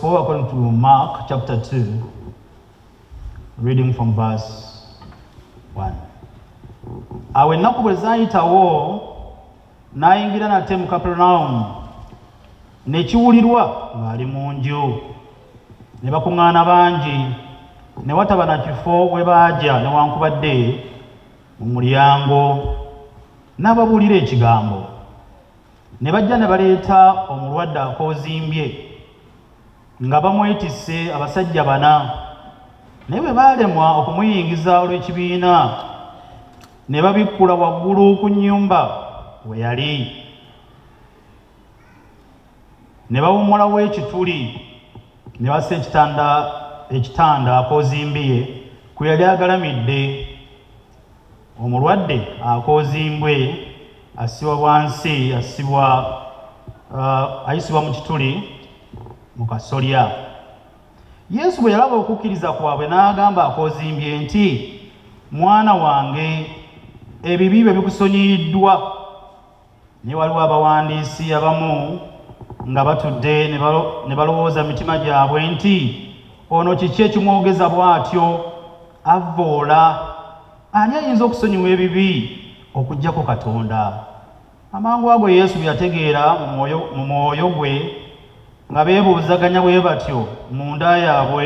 Go according to Mark chapter 2, reading from verse 1. Awo ennaku bwe zaayitawo n'ayingira nate mu Kaperunawumu ne kiwulirwa ng'ali mu nju ne bakuŋŋaana bangi ne wataba na kifo we baagya newankubadde mu mulyango n'ababuulira ekigambo. ne bajja ne baleeta omulwadde akoozimbye nga bamwetisse abasajja bana naye bwe baalemwa okumuyingiza olw'ekibiina ne babikkula waggulu ku nnyumba we yali ne bawummulawo ekituli ne bassa ekitanda ekitanda akoozimbiye kwe yali agalamidde Omulwadde akoozimbwe assibwa bwansi assibwa uh, ayisibwa mu kituli mu kasolya. Yesu bwe yalaba okukkiriza kwabwe n'agamba akoozimbye nti mwana wange ebibi byo bikusonyiyiddwa. Naye waliwo abawandiisi abamu nga batudde ne balowooza mu mitima gyabwe nti ono kiki ekimwogeza bw'atyo avvoola ani ayinza okusonyiwa ebibi okugyako katonda amangu ago yesu bwe yategeera mu mwoyo gwe nga beebuuzaganya bwe batyo mu nda yaabwe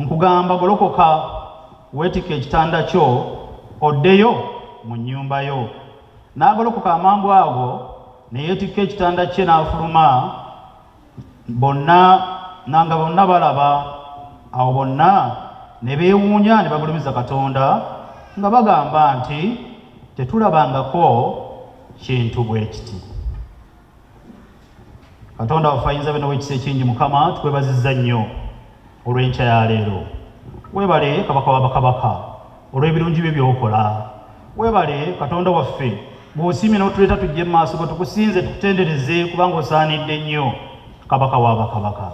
Nkugamba golokoka weetike ekitanda kyo oddeyo mu nnyumba yo. N'agolokoka amangu ago ne yeetikka ekitanda kye n'afuluma, bonna na nga bonna balaba. Awo bonna ne beewuunya ne bagulumiza Katonda nga bagamba nti, Tetulabangako kintu bwe kiti. katonda waffe ayinza bino wekisa ekingi mukama tukwebaziza nnyo olw'enkya ya leero webale kabaka wa bakabaka olw'ebirungi bye byokola webale katonda waffe bw'osiimye n'otuleeta tujje mu maaso go tukusinze tukutendereze kubanga osaanidde nnyo kabaka wa bakabaka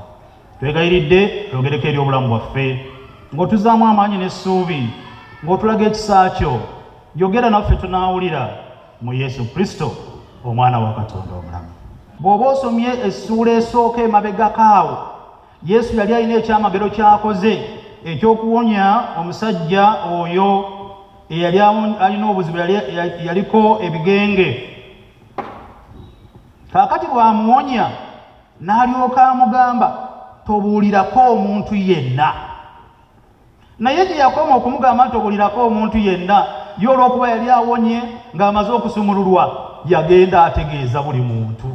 twegayiridde twogereko eri obulamu bwaffe ng'otuzaamu amaanyi n'essuubi ng'otulaga ekisa kyo yogera naffe tunaawulira mu Yesu Kristo omwana wa Katonda omulamu. Bw'oba osomye essuula esooka emabegako awo, Yesu yali alina ekyamagero ky'akoze eky'okuwonya omusajja oyo eyali alina obuzibu yaliko ebigenge. Kaakati bw'amuwonya n'alyoka amugamba tobuulirako omuntu yenna. Naye gye yakoma okumugamba nti obulirako omuntu yenna, ye olw'okuba yali awonye ng'amaze okusumululwa, yagenda ategeeza buli muntu.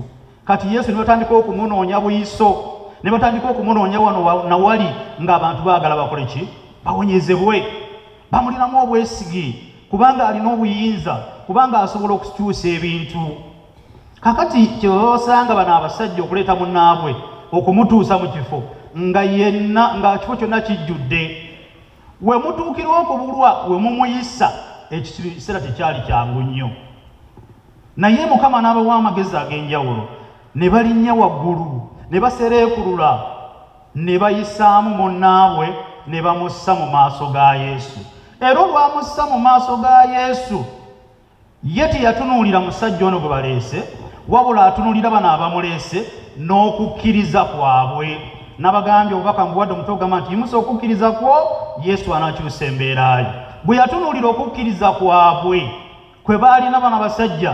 Kati Yesu ne batandika okumunoonya buyiso, ne batandika okumunoonya wano na wali ng'abantu baagala bakole ki? Bawonyezebwe. Bamulinamu obwesige kubanga alina obuyinza, kubanga asobola okukyusa ebintu. kakati kyebaba basanga bano abasajja okuleeta munaabwe okumutuusa mu kifo nga yenna nga kifo kyonna kijjudde we mutuukira okubulwa we mumuyisa ekiseera tekyali kyangu nnyo naye mukama n'abawa amagezi ag'enjawulo ne balinnya waggulu ne basereekulula ne bayisaamu munnaabwe ne bamussa mu maaso ga yesu era olwamussa mu maaso ga yesu Ye teyatunuulira musajja ono gwe baleese, wabula atunulira bano abamuleese n'okukkiriza kwabwe. Nabagambye obubaka mbuwadde omutwe ogamba nti yimusa okukkiriza kwo Yesu anakyusa embeera ye. Bwe yatunuulira okukkiriza kwabwe kwe baalina bano abasajja,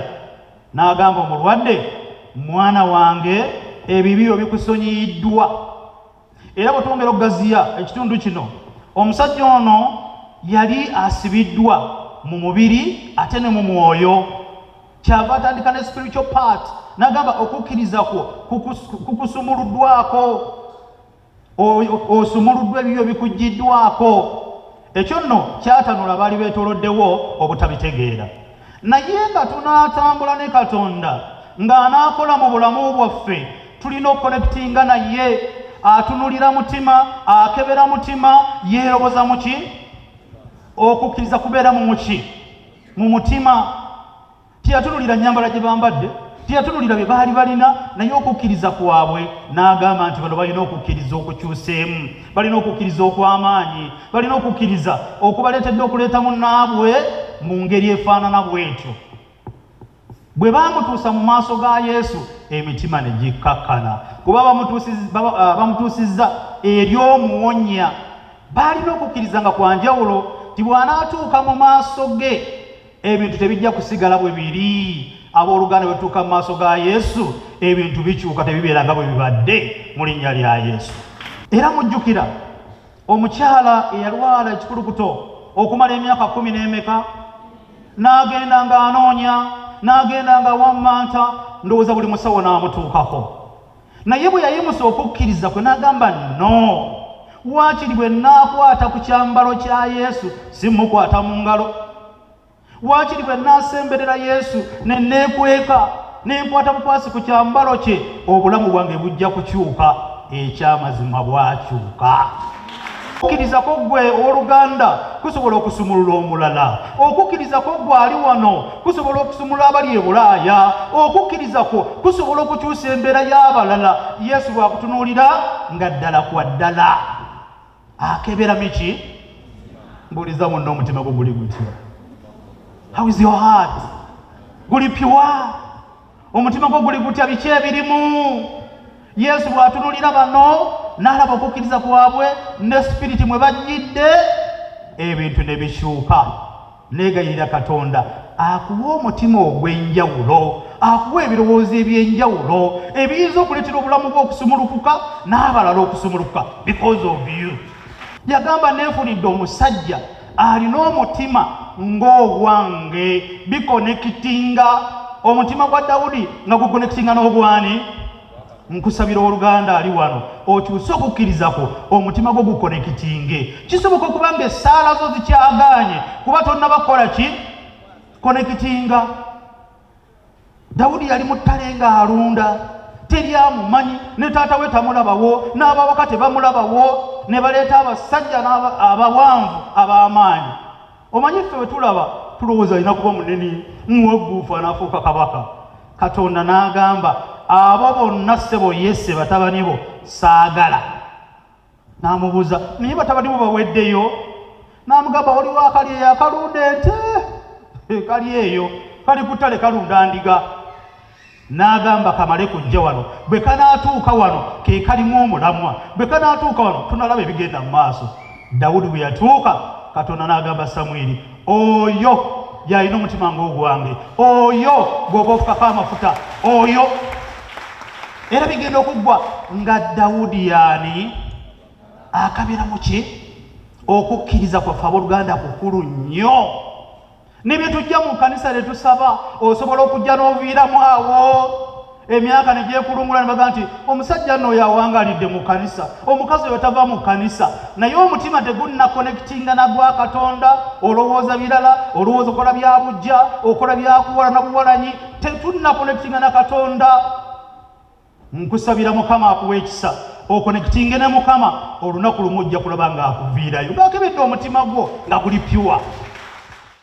n'agamba omulwadde, mwana wange ebibi byo bikusonyiyiddwa. era bwe twongera okugaziya ekitundu kino omusajja ono yali asibiddwa mu mubiri ate ne mu mwoyo kyava atandika ne spiritual part nagamba okukkiriza kwo kukusumuluddwako osumuluddwa ebibyo bikuggiddwako Ekyo nno kyatanula abaali beetoloddewo obutabitegeera. Naye nga tunaatambula ne Katonda ng'anaakola mu bulamu bwaffe, tulina okukonekitinga naye. Atunulira mutima, akebera mutima, yeeroboza mu ki? Okukkiriza kubeera mu muki? Mu mutima. Teyatunulira nnyambala gye bambadde, teyatunulira bye baali balina, naye okukkiriza kwabwe n'agamba nti bano balina okukkiriza okukyuseemu, balina okukkiriza okw'amaanyi, balina okukkiriza okubaleetedde okuleeta munnaabwe mu ngeri efaanana bw'etyo. Bwe baamutuusa mu maaso ga Yesu, emitima ne gikkakkana kuba ah, bamutuusizza eri omuwonya. Baalina okukkiriza nga kwa njawulo nti bw'anaatuuka mu maaso ge ebintu tebijja kusigala bwe biri abooluganda bwetutuuka mu maaso ga yesu ebintu bikyuka tebibeera nga bwe bibadde mu linnya lya yesu era mujjukira omukyala eyalwala ekikulukuto okumala emyaka kumi n'emeka n'agenda ng'anoonya n'agenda nga wammanta ndowooza buli musawo n'amutuukako naye bwe yayimusa okukkiriza kwe n'agamba no waakiri bwe naakwata ku kyambalo kya yesu si mukwata mu ngalo waakiri bwe naasemberera yesu ne neekweka nenkwata bukwasi ku kyambalo kye obulamu bwange bujja kukyuka ekyamazima bwakyuka okukirizako gwe owoluganda kusobola okusumulula omulala okukirizako gwe ali wano kusobola okusumulula abali ebulaaya okukirizako kusobola okukyusa embeera y'abalala yesu bwakutunuulira nga ddala kwa ddala akebera miki mbuuliza munna omutima gwo guli gutya how is your heart guli piwa omutima gwo guli gutya biki ebirimu yesu bw'atunulira bano n'alaba okukkiriza kwabwe ne sipiriti mwe bajjidde ebintu ne bikyuka neegayirira katonda akuwa omutima ogw'enjawulo akuwa ebirowoozo eby'enjawulo ebiyinza okuleetera obulamu bwe okusumulukuka n'abalala okusumulukuka because of you yagamba neefunidde omusajja alina omutima ng'ogwange bikonekitinga omutima gwa dawudi nga gukonekitinga n'ogwani nkusabira oluganda ali wano okyuse okukkiriza kwo omutima gwo gukonekitinge kisoboka okuba nga essaala zo zikyagaanye kuba tonnabakola ki konekitinga dawudi yali mu ttale ng'alunda teri amumanyi ne taata we tamulabawo n'abawaka tebamulabawo ne baleeta abasajja abawanvu ab'amaanyi omanyi ffe bwe tulaba tulowooza alina kuba munene muwagguufu anaafuuka kabaka katonda n'agamba abo bonna ssebo yese batabani bo saagala n'amubuuza naye batabani bo baweddeyo n'amugamba waliwo akali eyo akalunda ente eh, kali eyo kali kutale kalunda ndiga n'agamba kamale kujja wano bwe kanaatuuka wano ke kalimu omulamwa bwe kanaatuuka wano tunalaba ebigenda mu maaso dawudi bwe yatuuka katonda n'agamba samwiri oyo yalina omutima ng'ogwange oyo gwoba ofukako amafuta oyo era bigenda okuggwa nga dawudi yaani akabira mu ki okukkiriza kwaffe abooluganda kukulu nnyo ne bye tujja mu kanisa ne tusaba osobola okujja n'oviiramu awo emyaka ne gyekulungula ne baga nti omusajja nno oyo awangalidde mu kanisa omukazi oyo tava mu kanisa naye omutima tegunna konekitinga nagwa katonda olowooza birala olowooza okola bya bujja okola byakuwala na buwalanyi tetunnakonekitinga na katonda nkusabira mukama akuwa ekisa okonekitinge ne mukama olunaku lumu ojja kulaba ng'akuviirayo ng'akebedde omutima gwo nga guli pyuwa